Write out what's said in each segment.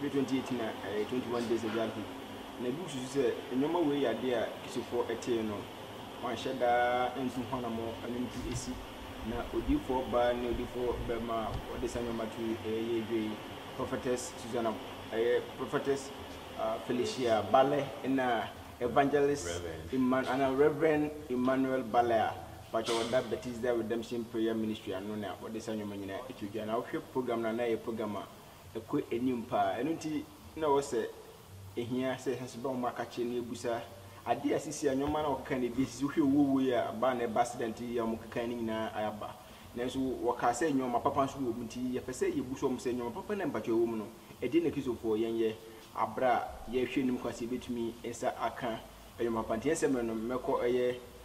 bere 2018 a ɛyɛ 21 Days Ago afe yi, na ebi susu sɛ nneɛma wei yɛ ade a Kisifoɔ tee no wɔanhyɛ da ntu ho anammɔn no nti asi, na odiyifoɔ baa ne odiyifoɔ barima a wɔde saa nneɛma to yi yɛ adwuma yi, Prophetess Susana, ɛyɛ Prophetess Felicia Balle na Evangelist Emman anaa Rev. Emmanuel Balle a pakyɛ wɔda Bethesda Redemption Prayer Ministry ano na wɔde saa nneɛma nyinaa to dwa, na wohwɛ program no a na ɛyɛ program a ɛkɔ anim paa. Ɛno nti na ɔwɔ sɛ ehia sɛ yɛhyɛ so ba wɔn akakyere na yɛbusa adeɛ a ɛsisi a nneɛma no a wɔkeka no bi esisi wohwɛ owuo wei a aba na ɛba accident yi a wɔkeka no nyinaa aba nanso wɔkaa sɛ nneɛma papa nso wɔ mu nti yɛpɛ sɛ yɛbusa wɔn sɛ nneɛma papa na mpatwa ɛwɔ mu no ɛdeɛ na kristofoɔ yɛnyɛ abere a yɛhwɛ anim kwan sɛ yɛbɛtumi nsa aka nneɛma papa nti ɛnsɛ mmerɛ no mɛkɔ ɛyɛ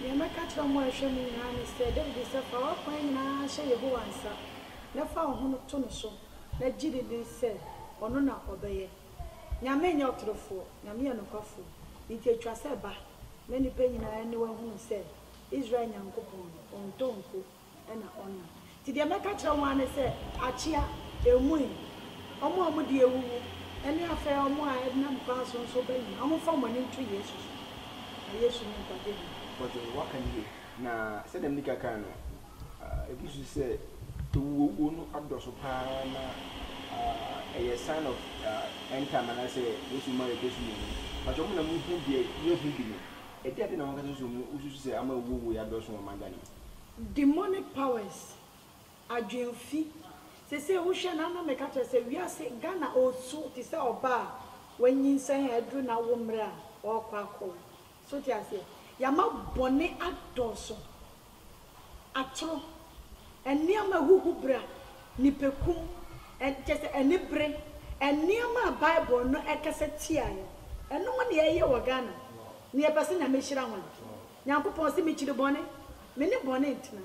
Nea mɛka akyerɛ mo a ɛhwɛ mo nyinaa ne sɛ, Dawid sɛ, 'Fa w'akwan nyinaa hyɛ Yehowa nsa, na fa wo ho no to no so, na gye dinnen sɛ ɔno na ɔbɛyɛ. Nyame nyɛ ɔtorofoɔ, Nyame yɛ nokwafoɔ, enti ɛtwa sɛ ba, na nnipa nyinaa aniwa hunu sɛ Israel Nyankopɔn no, ɔntɔ nko. na ɔnna. Nti deɛ mɛka kyerɛ wɔn ara ne sɛ, Akyea, ɛmui! Wɔn a wɔde awuwu, ne afei wɔn a ɛdenam kwan so nso ba nyinaa, wɔmfa wɔn ani nto Yesu so, na Yesu ne nkwagyeɛ bi. Ɔdze, wɔaka no yie. Na sɛdeɛ mede kan kaa no, ɛgu so sɛ awuwuo no adɔso pa ara na ɛyɛ sign of end time anaasɛ Yesu mma rebɛsu yɛn mu. Mpakyɛ mo na mohu deɛ yɛnhu bi no, ɛdeɛn na monkasa so mu wosusu sɛ ama awuwuo yi adɔso wɔ ɔman Ghana mu? Demonic powers, adwenfi, sesei wohwɛ na na meka kyerɛ sɛ wiase, Ghana ɔɔsu te sɛ ɔbaa a wanyinsɛn a aduru n'awo mmerɛ a ɔɔkɔ akɔwo. So wote aseɛ? Yɛama bɔne adɔɔso, atoro, nneɛma ahuhubra, nipakum, kyerɛ sɛ anibere, nneɛma a Bible no kasa tiaɛ, ɛnom na yɛyɛ wɔ Ghana, na yɛpɛ sɛ Nyame hyira hwan? Nyankopɔn se, Mekyiri bɔne, Me ne bɔne ntena.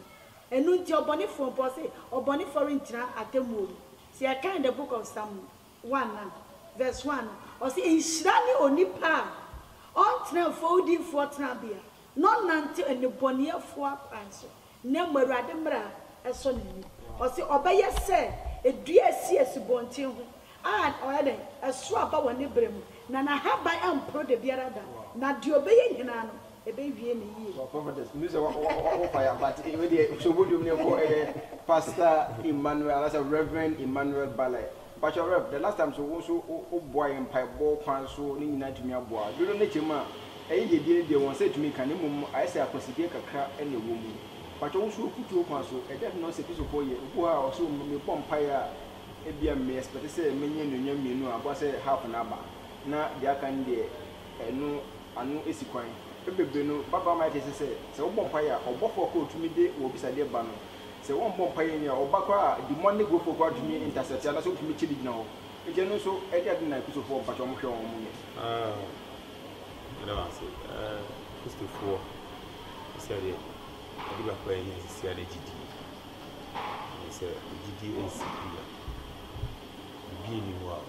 Eno nti, ɔbɔnefoɔ mpo, ɔse, ɔbɔnefoɔ rentena atemmuo mu. Se yɛka in the book of Psalm one no, verse one no, ɔse, Nhyira ne onipa a ɔntena mfowdinfoɔ tenabea, na ɔnnante nnebɔneyɛfoɔ akwan so. Na mmɔ Awurade mmara sɔ n'ani. Ɔse ɔbɛyɛ sɛ dua a ɛsi asubɔnten ho a ɔyɛ dɛn? Ɛso aba wɔ ne berɛ mu, na n'ahaban remporo da biara da, na deɛ ɔbɛyɛ nyinaa no, ɛbɛwie no yie. Well prophetess menim sɛ wo fa ya but wei deɛ hyɛ wo bɔdwom no nkɔ ɛyɛ pastor Emmanuel anaasɛ Reverend Emmanuel Baleh Mpakyɛw Rev, the last time so wo nso wo boa yɛn mpaebɔ kwan so ne nyinaa atumi aboa a, dodoɔ no kyɛ mu a ɛyɛ deɛ ɛbia no deɛ wɔn nsa ɛtumi ka na mmom no ayɛ sɛ akwasidie kakra na ɛwɔ mu. Mpakyɛw wo so afutuo kwan so ɛdeɛn na ɔsɛ Kristofoɔ yɛ? Obi wɔ ha a ɔse o me bɔ mpaeɛ a ɛbia me expect sɛ mɛnya anuonyam mmienu a aboa sɛ half no aba na deɛ aka no deɛ ɛno ano ɛsi kwan. Ɛberɛ bebree no ba baa ma yɛte ase sɛ sɛ wo bɔ mpaeɛ a ɔbɔfoɔ koro a ɔtumi de wɔ abisadeɛ ba no Sɛ wɔmmɔ mpaeɛ nyi a ɔba koraa a demonic wei foɔ koraa tumi intercept anaasɛ ɔtumi kye ne gyina hɔ nti ɛno nso ɛde ade na kristofoɔ mpakyɛ wɔn hwɛ wɔn wɔn yɛ. Ɛda wase kristofoɔ sɛ deɛ ɛde baako a ɛnyɛ sisi a ne gyidie ɛne sɛ gyidie ɛnsi bi a biribi nni hɔ a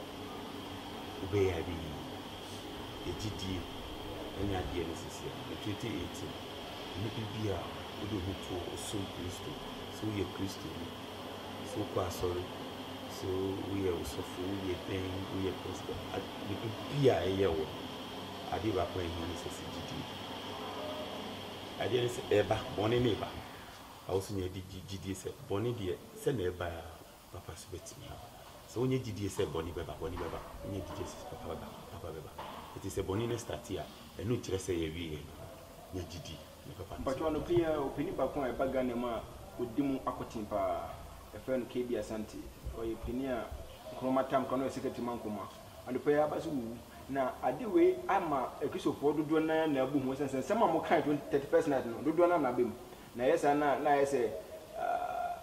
wobɛyɛ a ɛbɛyɛ yie ɛgyidie ɛne adeɛ ne sisi a 2018 ne biribi a wode wo ho to hɔ, wosom Kristo, sɛ woyɛ Kristoni, sɛ wokɔ asɔre, sɛ woyɛ ɔsɔfo, woyɛ dɛn, woyɛ pɛsda, biribi a ɛyɛ wo no, adeɛ baako a ɛhia ne sɛ sɛ gyidie. Adeɛ ne sɛ ɛba, bɔne ne ɛba. Awo so nya gyidie sɛ bɔne deɛ sɛ na ɛba a, Papa so bɛtumi aba. Sɛ wonya gyidie sɛ bɔne bɛba, bɔne bɛba. Wonya gyidie sɛ papa bɛba, papa bɛba. Enti sɛ bɔne no starte a, ɛno nkyerɛ sɛ yɛawieɛ. Nya gyidie ne papa no so Mpakyɛw, bɛba. anɔpa yi ara ɔpanin baako a ɛba Ghana mu a ɔdi mu akoten pa ara, yɛfrɛ no KB Asante. Ɔyɛ panin a Nkrumah tam ka no, ɔyɛ Secretary ma Nkrumah. Anɔpa yi ara aba so wuwu. Na ade wei ama Akristofoɔ dodoɔ no ara nyinaa abu hu ɛsiane sɛ nsɛm a wɔkae twen thirty first night no, dodoɔ no ara na aba mu. Na ɛyɛ saa no a, na ayɛ sɛ ah,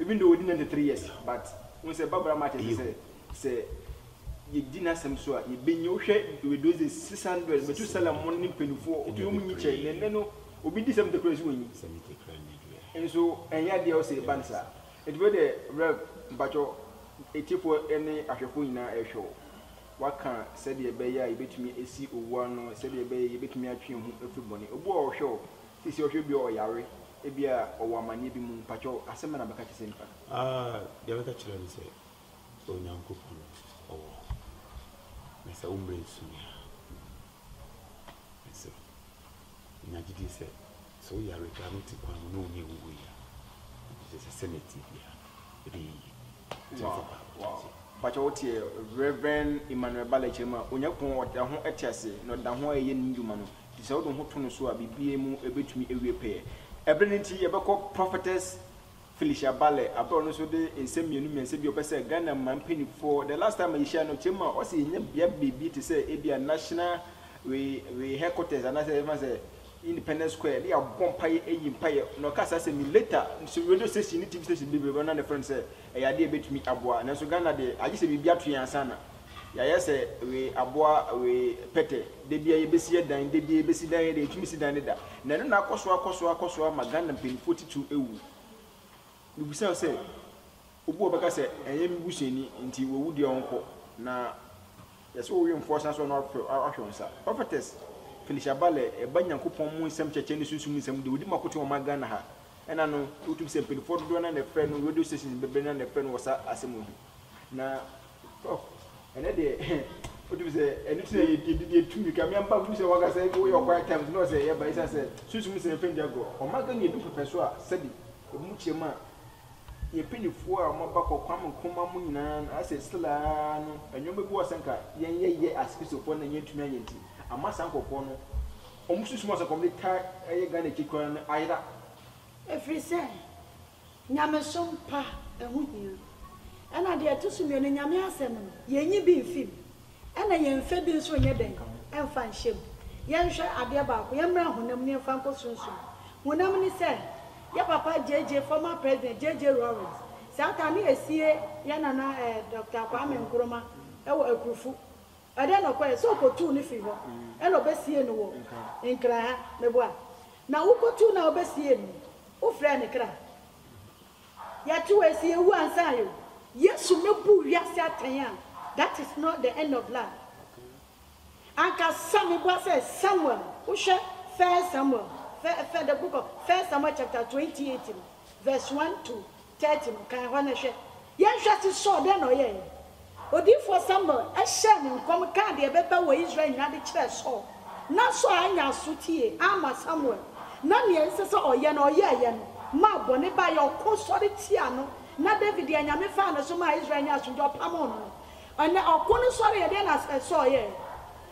Even though wadi ninety three years but wohu sɛ Bible ama akyerɛ sɛ sɛ yɛdi n'asɛm so a yɛbɛnya wohwɛ with those days six hundred Methuselah mo ne mpanimfoɔ wotumi wɔn nyi kyɛ na ɛnɛ no obi di seventy koraa so wɔnyi nso ɛnyɛ adeɛ wɔ sɛ yɛba no saa nti wei deɛ Rev mpakyɛ atiefoɔ ne ahwɛfoɔ nyinaa ɛrehwɛ wo waka sɛdeɛ ɛbɛyɛ a yɛbɛtumi asi owu ano sɛdeɛ ɛbɛyɛ yɛbɛtumi atwe yɛn ho afiri bɔne obi wɔ hɔ ɔhwɛ wo Sisi ɔhwɛ obi a ɔyare ebi a ɔwɔ amaneɛ bi mu mpakyɛw asɛm bɛn na bɛka kyerɛ saa nipa no. Aah deɛ bɛka kyerɛ no sɛ Onyankopɔn ɔwɔ hɔ na sɛ wo mmerɛ nsu me a mesrɛ wo nya gyedie sɛ sɛ wo yare koraa no wote kwan mu na wo ne awuo yi a gyesɛ sɛnea ɛteɛ biara ɛbɛyɛ yie. Mpakyɛw wo tse Rev. Emmanuel Ba Lɛkyerɛ mu a, Onyankopɔn ɔda ho tse ase na ɔda ho reyɛ ne ndwuma no, ntsi sɛ wode woho to no so a biribiara mu ebetumi ewie pɛɛ. Ber no ntsi yɛbɛkɔ Prophetess Felicia Ba Lɛ aber a ɔno so dze nsɛm mmienu mmiɛnsa bi a ɔpɛ sɛ Ghana man mpanyimfoɔ, the last time a yɛhyiae no ɔkyerɛ mu a ɔse yɛnya bea beebi te sɛ ebia National wei wei headquarters anaasɛ yɛbɛfa no sɛ Independence Square ne yɛabɔ mpaeɛ ayi mpaeɛ na ɔkaa saa asɛm yi later sɛ radio station ne TV station bebree bɛba na ne frɛ no sɛ ɛyɛ adeɛ a ɛbɛtumi aboa nanso Ghana deɛ agye sɛ biribi ato yɛn ansa na yɛayɛ sɛ wei aboa wei pɛtɛ da bia yɛbɛsi yɛ dan da bia yɛbɛsi dan yɛ deɛ yɛtumi si dan ne da na ɛno na akɔ so akɔ so akɔ so ama Ghana mpanimfoɔ titiriw awu mebisa sɛ Obi wɔ hɔ ɔbɛka sɛ, Ɛnyɛ me busuani nti wawu deɛ ɔnkɔ, na yɛ sɛ wowemfoɔ san so na wahwɛ wo nsa. Prophetess Phylisha Bale ɛba Nyankopɔn mu nsɛm kyerɛkyerɛ ne sunsum nsɛm deɛ ɔdi makoten wɔ ma Ghana ha. Ɛna no wotumi sɛ mpaninfoɔ dodoɔ na na ɛfrɛ no radio stations bebree na na ɛfrɛ no wɔ sa asɛm wei ho. Na prof ɛnɛ deɛ wotumi sɛ ɛno ti na yɛdi deɛ tu mirika me amba mu sɛ wɔka sɛ ebi woyɛ quiet times na ɔsɛ yɛba ɛsan sɛ sunsum nsɛm fɛn di agorɔ. Ɔma Ghana edu pɛpɛ so a sɛbi ebi mu kyerɛ mu a Yɛ panyinfoɔ a moaba kɔ Kwame Nkrumah mu nyinaa no asɛ stila ara no nnoɔma bi wɔ sɛ nka yɛn yɛ yɛ as kristofoɔ na yɛn tumi ayɛ nti ama saa nkorɔfoɔ no wɔn susu mu asɛ nka wɔn de taa ɛyɛ Ghana akyi koraa no ayera. Ɛfiri sɛ nyamesom pa ɛho hia. Ɛna deɛ ɛto so mmienu Nyame asɛm no yɛnyi bi mfi mu Ɛna yɛn fɛ bi nso nyɛ dɛn mfa nhyɛ mu. Yɛnhwɛ adeɛ baako, yɛmmra honam ne yɛmfa nkɔ sunsum. Honam ne sɛ, yɛ papa JJ, former president JJ Rawlings, saa ta ne ɛsie yɛ nana eh, Doctor Kwame Nkrumah ɛwɔ Akurufu. Ɛdɛn na ɔkɔyɛ? Sɛ ɔkɔtuu no firi hɔ ɛna ɔbɛsiee no wɔ Nkran ha, meboa? Na wokɔtuu no a wobɛsiee no no, wofrɛɛ no kra? Yɛtew asi ewu ansa yo. Yesu mɛ buu wiase atɛn a that is not the end of life anka sa me boa sɛ Samuel wo hwɛ first Samuel fɛ fɛ the book of first Samuel chapter twenty eight no verse one to thirty no kan hɔ na hwɛ yɛn hwɛ se Saul dɛn na ɔyɛɛ Odiyifoɔ Samuel hyɛɛ no nkɔm kaa deɛ ɛbɛba wɔ Israel nyinaa de kyerɛɛ Saul, nanso annya asotie amma Samuel, na nea ɛnsɛ sɛ ɔyɛ no, ɔyɛeɛ no maa bɔne baeɛ. Ɔko sɔre tiaa no, na Dawid de anyame faa ne so maa Israel nyaa asomdwoeɛ, ɔpamoo no no. Ɛnnɛ, ɔko no sɔreeɛ, ɛdeɛn na Saul yɛeɛ?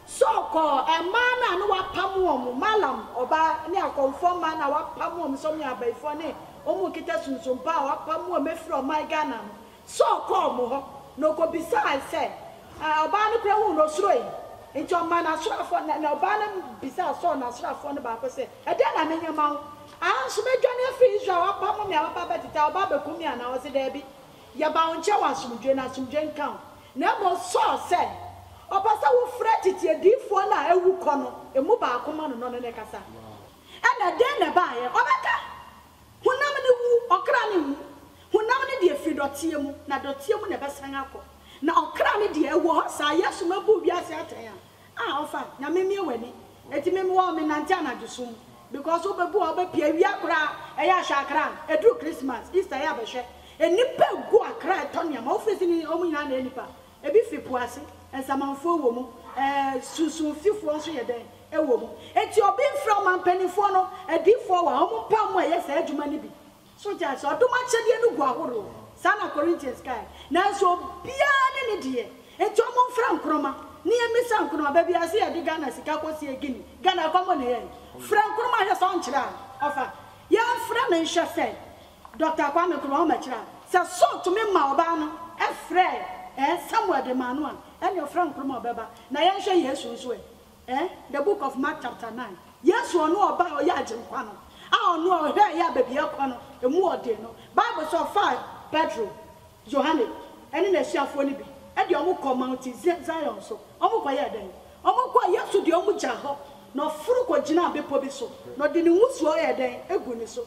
Saul kɔɔ mmaa no a na wɔapam wɔn, Maalam ɔbaa ne akɔmfoɔ mmaa no a wɔapam wɔn sɛ wɔyɛ abayifoɔ ne wɔn nkita sunsumpa a wɔapam wɔn afiri ɔman Ghana no, Saul kɔɔ wɔn hɔ, na ɔkɔbisae sɛ, Ɛ, ɔbaa no koraa huu no, ɔsuroe. Enti ɔmaa n'asraafoɔ, na, na ɔbaa no bisaa Saul n'asraafoɔ no baako sɛ, Ɛdeɛn na menyɛ mma wo? Aa nso madwane afiri Israel, wɔapamo me a, wɔaba abɛtete ha, wɔba abɛkum me anaa? Ɔse, Daabi, yɛbaa wo nkyɛn wɔ asomdwoeɛ, na asomdwoeɛ nka wo. Na mmom Saul sɛ, Ɔpɛ sɛ wofrɛ tete adiyifoɔ no a awu kɔ no mu baako ma no, na ɔne no kasa. Ɛnna dɛn na ɛbaeɛ? Ɔbɛka! Honam no wu, ɔkra no nwu. Honam no deɛ firi dɔteɛ mu, na dɔteɛ mu na ɛbɛsan akɔ. Na ɔkra no deɛ, ɛwɔ hɔ saa. Yesu ma buu wiase atɛn a, a ɔfa, na memie w'ani. Enti me, mewɔ, menante anadwo sum mu. Because wobɛbu a, wobɛpia, awia koraa, ɛyɛ a hwɛ akra no, ɛduru Christmas, Easter ɛyɛ a bɛhwɛ. Nnipa agu akra, ɛtɔ nneɛma, wofiri ase ne wɔn nyinaa na ɛyɛ nnipa. Ebi fi po ase, nsamanfuo wɔ mu, ɛɛ sunsunfifoɔ nso yɛ dɛn? Ɛwɔ mu. Enti obi mfrɛ ɔman mpanimfoɔ no, adiyifoɔ wɔ ha, wɔn mpae mu ɛyɛ saa adwuma no bi. So wote aseɛ? Ɔdom akyɛdeɛ no gu ahoroɔ, saa na Corinthians kaeɛ. Nanso obiara ne ne deɛ. Enti wɔn mfrɛ Nkrumah, na yɛn mmisa Nkrumah, baabi a yɛse yɛde Ghana sika kɔ sie Guinea, Ghana ɛkɔm bɔ na ɛyɛ yɛn? Frɛ Nkrumah hwɛ sɛ ɔnkyerɛ a ɔfa. Yɛn mfrɛ no nhwɛ sɛ Dɔkta Kwame Kurumah kyerɛ a, sɛ Saul tumi maa ɔbaa no frɛɛ ɛ, Samuel de maa no a, ɛnneɛ ɔfrɛ Nkrumah ɔbɛba. Na yɛnhwɛ Yesu nso ɛ, ɛ, The Book of Mark chapter nine, Yesu a ɔno ɔbaa a ɔyɛ Agyenkwa no, a ɔno a ɔhwɛɛ yɛ a baabi a ɛkɔ no, ɛmu wɔ den no, Bible sɛ ɔfaa Petro, Yohane, ɛne n'asuafoɔ no bi de wɔn kɔɔ Mount Zion so, wɔn kɔyɛɛ dɛn? Wɔn kɔɔ, Yesu de wɔn gyaa hɔ, na ɔforo kɔgyinaa bepɔ bi so, na ɔde ne nwusuo yɛɛ dɛn? Gu ne so.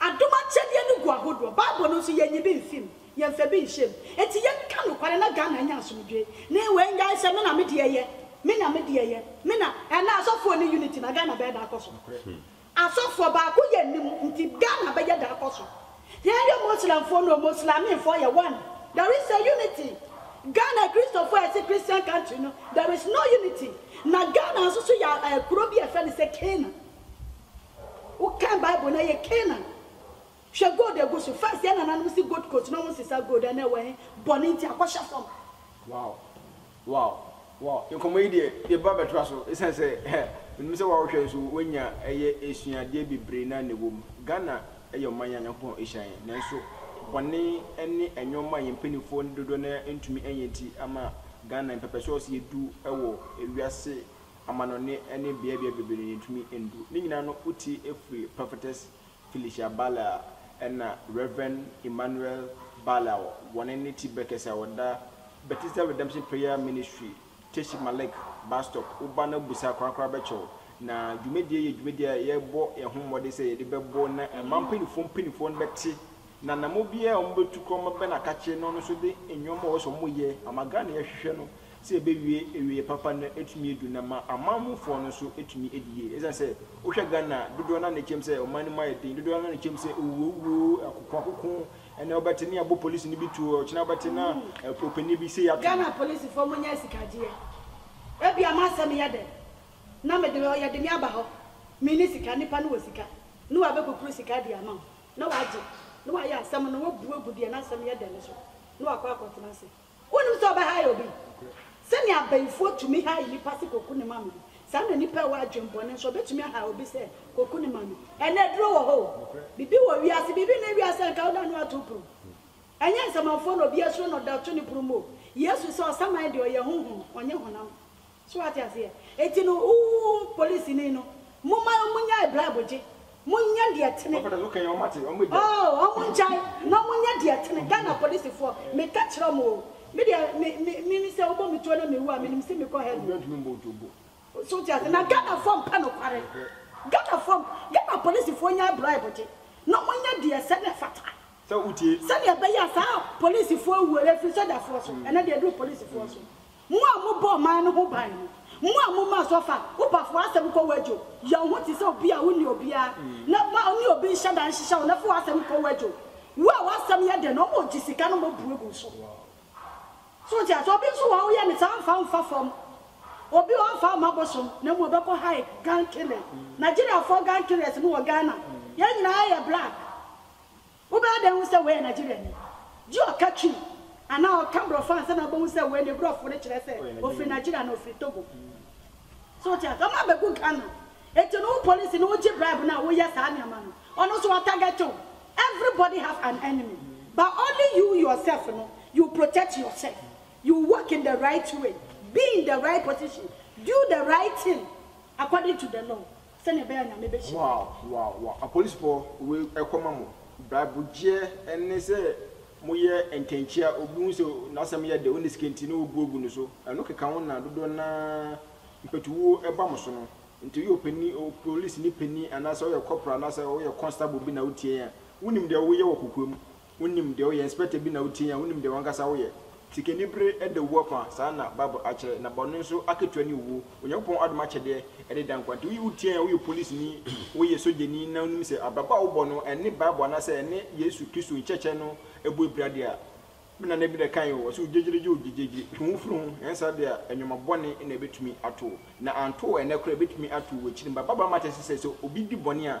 Adom akyɛdeɛ no gu ahodoɔ, bible no nso yɛnyi bi mfi mu, yɛnfa bi nhyɛ mu. Enti yɛnka nokware na Ghana anya asomdwoe. Ne wei nnyae sɛ me na me deɛ yɛ, me na me deɛ yɛ, me na, ɛnna asɔfoɔ nni unity no a Ghana bɛyɛ da akɔ so? Asɔfoɔ, baako yɛ nni mu nti Ghana bɛyɛ da akɔ so? Yɛnyɛ Muslimfoɔ no o, Muslimimfoɔ yɛ one, there is a unity. Ghana Kristofoɔ a yɛse Christian country no, there is no unity. Na Ghana nso so yɛ kuro bi a yɛfrɛ no sɛ Canaan. Wokan bible no ɛyɛ Canaan. Hwɛ gold egu so. First yɛn nananom si gold coast na ɔmo nsesa gold ɛnɛ ɛwɔ he? Bɔne nti akɔhyɛ fam. Wow wow wow nkɔmmɔ yi deɛ yɛ ba bɛtoa so ɛsiane sɛ menim sɛ wo a wohwɛ nso woanya ɛyɛ asuadeɛ bebree na na ɛwom Ghana ɛyɛ ɔman a Nyankopɔn ɛhyira yɛn nanso bɔne ɛne ɛnnoɔma a yɛn mpaninfoɔ no dodoɔ no ara ntumi ɛnyɛ nti ama Ghana mpɛpɛsoɔ sɛ yɛdu ɛwɔ ɛwiase amannɔne ne beabea bebree na yentumi ndu. Ne nyinaa no, wotee firi Prophetess Felicia Barlow a ɛna Rev. Emmanuel Barlow a wɔne ne ti bere kɛse a ɔda Bethesda Redemption Prayer Ministry, Teshima Lake, Bastop, woba na bu saa korakora bɛkyɛ wo. Na dwumadie yi yɛ dwumadie a yɛbɔ yɛn ho mmɔden sɛ yɛde bɛbɔ na ɛma mpanimfoɔ mpanimfoɔ no bɛte na anammɔn biara a wɔbɛtu koraa wɔbɛbɛn akakye na ɔno nso de nneɛma a ɔwɔ sɛ wɔyɛ ama Ghana a yɛhwehwɛ no sɛ ɛbɛwie awieɛ papa na atumi adu na ma aman mu foɔ no nso atumi adi yie. Ɛsiane sɛ wo hwɛ Ghana a dodoɔ no ara na ɛkyɛm sɛ ɔman no mu ayɛ den, dodoɔ no ara na ɛkyɛm sɛ owuo wuo, akoko akoko, ɛnɛ wo bɛte ne abɔ polisi no bi tuo, ɔkyena wo bɛte na ɔpanin bi sei ato no. Ghana polisifoɔ mo nyɛ asikagyeɛ, ɛbia mo asɛm yɛ dɛ na me de ɔyɛ de me aba hɔ, me ni sika, nipa no wɔ sika na wa bɛ kukuru sika de ama wo na wa gye na wa yɛ asɛm no wa bu agu deɛ na asɛm yɛ dɛ no so na wa kɔ akɔ tena ase. Wonnim sɛ ɔbɛhae obi? Sɛnea abayifoɔ tumi hae nnipa sɛ kɔku ne ma me no, saa na nnipa a ɛwɔ adwemmɔne nso, wɔbɛtumi ahae obi sɛ kɔku ne ma me. Ɛnnɛ, aduro wɔ hɔ o, biribi wɔ wiase, biribi nni wiase a anka woda ne woato wo puru. Ɛnyɛ nsamanfoɔ na obiara suro na ɔda to ne puru mu o. Yesu se, Ɔsaman deɛ, ɔyɛ honhom, ɔnyɛ honam. So wate aseɛ? Enti no, ooh, polisini no, momma wɔn nnyae brabogye. Monyɛ deɛ ɛtene. Ɔpɛ dɛ ɔka yɛn, wɔate, wɔn bɛgyae. Oo, wɔn ngyae na wɔn nyɛ deɛ ɛtene. Ghana polisifoɔ, meka kyerɛ wɔn oo, me deɛ, me, me, me, me sɛ wɔbɔ me tuo na me wu a, menim sɛ mekɔ heaven. Obiara ntumi mbɔ wo tuo bo. So wote aseɛ? Na Ghanafoɔ mpɛ nokware. Ghanafoɔ, Ghana polisifoɔ nnyae brabogye, na wɔn nyɛ deɛ ɛsɛ na ɛfata. Sɛ wotie. Sɛdeɛ ɛbɛyɛ a saa polisifoɔ awuo, ɛfiri sogyafoɔ so, ɛnɛ deɛ aduru polisifoɔ so. Mo a mobɔ ɔman no ho ban no, mo a momaa so fa wo bafo asɛm kɔ wadwo, yɛ wo ho te sɛ obi a wonni obiara, na ma ɔne obi nhyɛ da nhyehyɛ wo na fa w'asɛm kɔ wadwo. Wo a w'asɛm yɛ dɛ no, wɔn a wogye sika no mmɔ bue gu wo so. So wote ase? Obi nso wɔ hɔ a, woyɛ no saa a, ɔmfa wo mfa fam. Obi wɔ hɔ a, ɔmfa wo mma bosom, na mmom ɔbɛkɔ hike, gun killing. Nigeriafoɔ gun killers no wɔ Ghana. Yɛn nyinaa yɛ black. Wobɛyɛ dɛn ahu sɛ wei yɛ Nigeriani? Gye ɔka Twi anaa ɔka Borɔfo ansa na wobɛhu sɛ wei ne Borɔfo no kyerɛ sɛ ɔfiri Nigeria anaa ɔfiri Togo. So wote ase? Wɔabɛgu Ghana. Enti no wo polisi no wogye bribe no a woyɛ saa nneɛma no, ɔno nso watarget wo. Everybody have an enemy but only you yourself no you protect yourself, you walk in the right way, be in the right position, do the right thing according to the law. Sɛnea ɛbɛyɛ a Nyame bɛhyira wo. Wow wow wow apolisfoɔ wei ɛkɔma mo braibo gyeɛ ɛne sɛ mo yɛ ntɛnkyea obi hu sɛ nasɛm yɛ dɛ ɔnni sika nti na ɔbu agu no so ɛno keka ho na dodoɔ no ara mpatuwuo ɛba mo so no nti woyɛ ɔpanin polisini panin anaasɛ woyɛ kɔpra anaasɛ woyɛ kɔnstabol bi na wotie yɛn a wonim deɛ woyɛ wɔ kokoam Wonim deɛ woyɛ, inspector bi na wotie yɛn a wonim deɛ wankasa woyɛ. Sikani bere da owuo afa saa na bible akyerɛ na bɔne nso akatua ne owuo. Onyankopɔn adom akyɛdeɛ ɛde da nkwa nti woyi wotie yɛn a woyɛ polisini, woyɛ sogyani na wonim sɛ abrabɔ a wobɔ no ɛne bible anaasɛ ɛne Yesu Kristo nkyerɛkyerɛ no bɔ abira deɛ a, me nana bi na ɛkaeɛ o, ɔse ogyegyeregyee ogyegyegyere, twe wo ho firi ho, anyɛ saa deɛ a nnoɔma bɔne na ɛbɛtumi ato wo na anto wo ɛnnɛ koraa ɛbɛtumi ato wo akyiri mba. Bible ama ate sɛ sɛ obi di bɔne a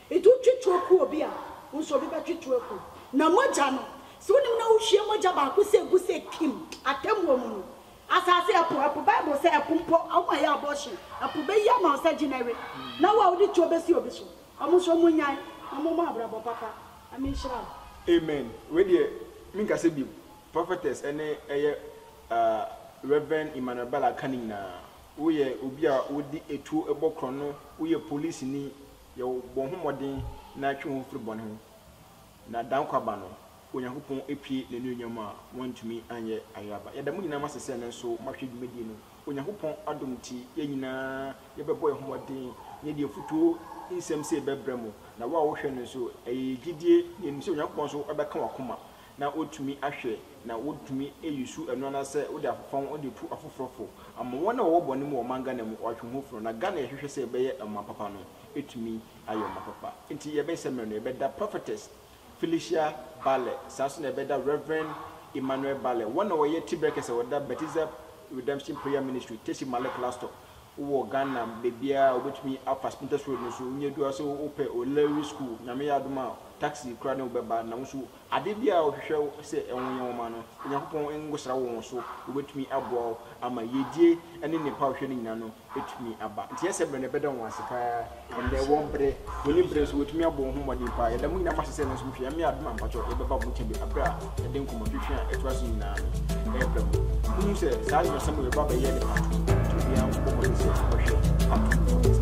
Edu twe toakuo bi a, wo nso obi bɛtwe toakuo. Na mogya no, sɛ wonim na wohwie mogya baako sɛ gu sɛ kim, atɛmmuo mu no, asase, ɛpo, ɛpo, Bible sɛ ɛpo mpo, wɔn a ɛyɛ abortion, ɛpo bɛyi ama wo sɛ gye na we, na wo a wode tuo bɛsi obi so. Wɔn nso wɔn nnyae, na wɔn mmɔ abrabɔ papa. Ame nhyira wo. Amen wei deɛ me nkasa bio prophetess ɛne ɛyɛ ahh Rev Emmanuel Bala ka ne nyinaa woyɛ obi a wode atuo bɔ korɔno woyɛ policeni Yɛwɔ bɔ ho mmɔden na twe wo ho firi bɔne ho, na da nkwa ba no, Onyankopɔn apue n'anuonyam a wɔantumi anyɛ ayaba. Yɛda mo nyinaa mo ase sɛ nanso moahwɛ dwumadie no. Onyankopɔn adom nti, yɛn nyinaa yɛbɛbɔ yɛn ho mmɔden na yɛde afutuo nsɛm sei bɛbrɛ mo, na wo a wohwɛ no nso, ɛyɛ yɛn gyidie na yɛnim sɛ Onyankopɔn nso bɛka w'akoma na wotumi ahwɛ na wotumi eyi su ɛno anasɛ wode afefa ho de tu afoforɔ fo ama wɔn a wɔwɔ bɔne mu wɔ ɔman Ghana mu wɔatwe ho funu na Ghana yɛhwehwɛ sɛ ɛbɛyɛ ɔman papa no ɛtumi ayɛ ɔman papa nti yɛbɛ sɛ mmerɛ no yɛbɛda Prophetess Felicia Balle saa nso na yɛbɛda Rev Emmanuel Balle wɔn na wɔyɛ Tiberɛ kɛsɛ wɔda Baptisa Redemption Prayer Ministry Tessy Male Clastor wowɔ Ghana baabiara a wobɛtumi afa Spintex Road no so wonya du ase wopɛ O'Leary School Nyame yɛ adom a taxi koraa ne wo bɛba na wo nso Ade biara a wɔhwehwɛ sɛ wɔnyɛ wo ma no, Onyankopɔn nkɔsra wo wɔn so, wɔbɛtumi aboa wo ama yiedie ne nnepa a wohwehwɛ no nyinaa no atumi aba. Nti ɛsɛ berɛ no ɛbɛda wɔn ase paa, ɛnnɛ ɛwɔ berɛ, wɔnni berɛ nso wɔtumi abɔ wɔn ho mmɔden paa. Yɛda mo nyinaa mo ase sɛ ɛno nso mohwɛ, Nyame adom a mpakyɛw yɛbɛba mo nkyɛn berɛ a yɛde nkɔmmɔtwetwe a ɛtoa so nyinaa no ɛreba mu. Monhu sɛ saa nnwɛsɛm wei ɛba abɛyɛ ne part two, nti obiara nkɔbɔ mmɔden sɛ ɔbɛhwɛ part two no.